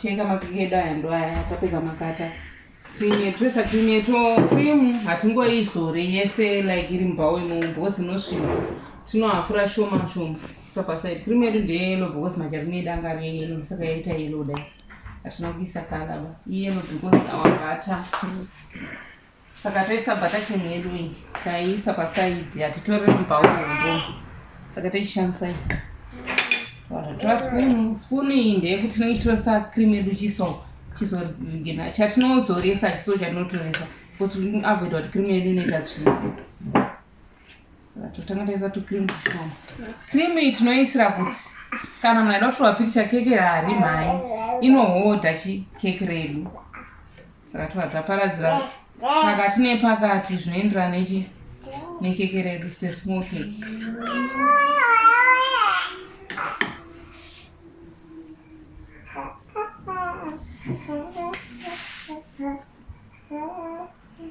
kuchenga makeke edu aya ndo aya tapedza makata krimu yedu toisa krimu yedu krimu hatingoizore yese like iri mubhawo imomo because inosvina tinohafura shoma shoma sapa said krimu yedu ndeyelo because majarini edu anga ari eyelo saka yaita yelo dai hatina kuisa kala ba iyelo because our butter saka toisa butter cream yedu iyi taiisa pasaidi hatitore mubhaurombo saka toishandisa iyi tora spunu spunu iyi ndeyekuti tinenge tichitoisa cream yedu chiso chizorigena chatinozoresa chiso chatinotoresa kuti avoid kuti cream yedu inoita tsvina totanga taisa tucream tushoma cream iyi tinoisira kuti kana munhu aida kutorwa picture keke hari mhai inohodha chi keke redu saka tova taparadzira pakati nepakati zvinoenderana nechi nekeke redu ste small cake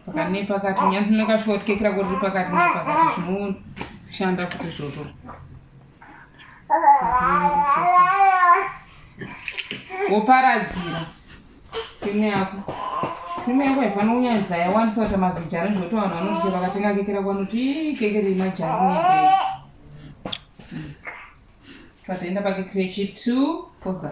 pakati nepakati nyati tinokashoti kekira kuti pakati nepakati zvinoshanda kuti izvozvo woparadzira krimu yako krimu yako haifanira kunyanya kuti yawandisa kuti mazijari zvokuti vanhu vanoti che vakatenga keke rako vanoti keke rei majari nekei patoenda pakekire chitu poza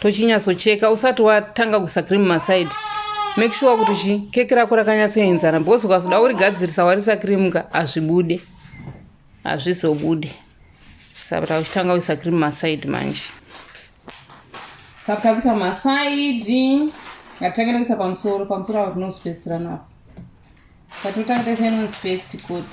tochinyatsocheka usati watanga kuisa cream maside make sure kuti chi keke rako rakanyatsoenzana because ukazoda kurigadzirisa warisa cream ka hazvibude hazvizobude saka takutanga kuisa cream maside manje saka takuisa maside ngatange nekuisa pamusoro pamusoro avo tinozopedzisira napo patotanga taisa inonzi paste coat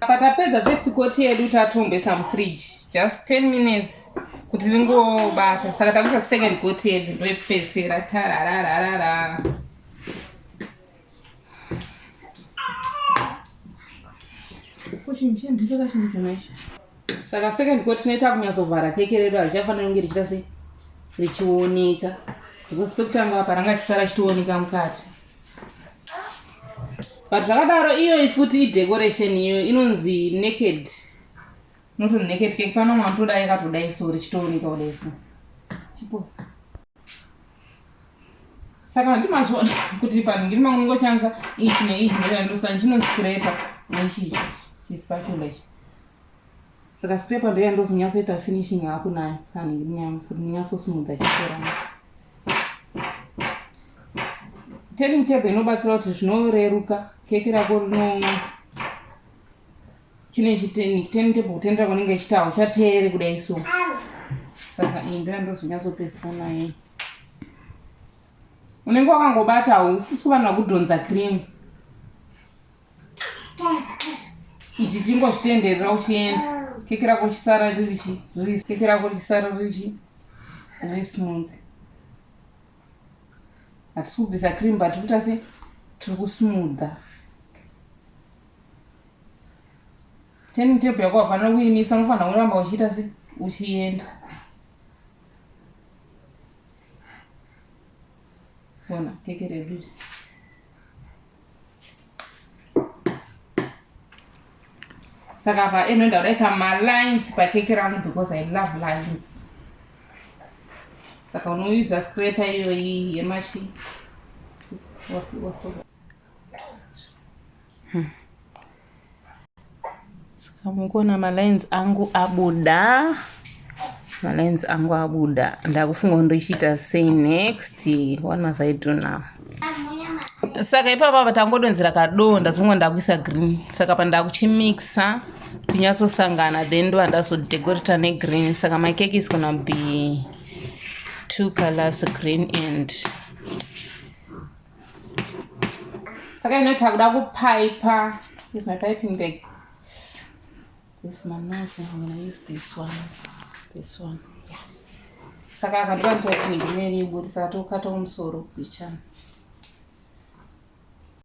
patapedza first coat yedu tatombesa mufridge just 10 minutes kuti ringobata saka takuisa second coat yedu ndoipesera tararararara saka second coat tinoita kunyatsovhara keke redu harichafanira kunge richita sei richioneka because pekutanga apa ranga chisara chitooneka mukati but zvakadaro iyoyi futi idecoration iyo inonzi naked not naked cake pano matoda yakatodai so richitooneka kudai so chipos saka ndimazviona kuti panhu ngiri mangu ndingochanisa ichi neichi ndoyandosani chinonzi scraper neichi ichi chispatula ichi saka scraper ndoyandozonyatsoita finishing haku nayo panhu ngiri nyangu kuti ndinyatsosmudha chikorana turning table inobatsira kuti zvinoreruka keke rako rino chine chiteni turning table kutendera kwanenge ichiti hauchateere kudai so saka iyi ndoya ndozonyatsopedzisa naye unenge wakangobata haufusi kuvanhu vakudhonza cream ichi chingozvitenderera uchienda keke rako richisara riri chi keke rako richisara riri chi riri smooth hatisi kubvisa cream but kuita se tiri kusmootha teni tepu yako wafanira kuimisa unofanira kuramba uchiita se uchienda bona keke redu saka apa inoenda kudaisa malines pakeke rangu because i love lines saka unoyuza scraper iyoyi yemachi hmm. Saka mukuona malines angu abuda malines angu abuda ndakufunga ndochiita sei next what must i do now saka ipapa tangodonzera kadoo ndazonga ndakuisa green saka pandakuchimixa tinyatsosangana then ndo andazodecorata negreen saka my cake is gonna be two colors green and saka inoita kuda kupaipa is my piping bag this manazi i'm gonna use this one this one yeah. saka akandipa nditoti ndimene iburi saka tokata kumusoro kuchana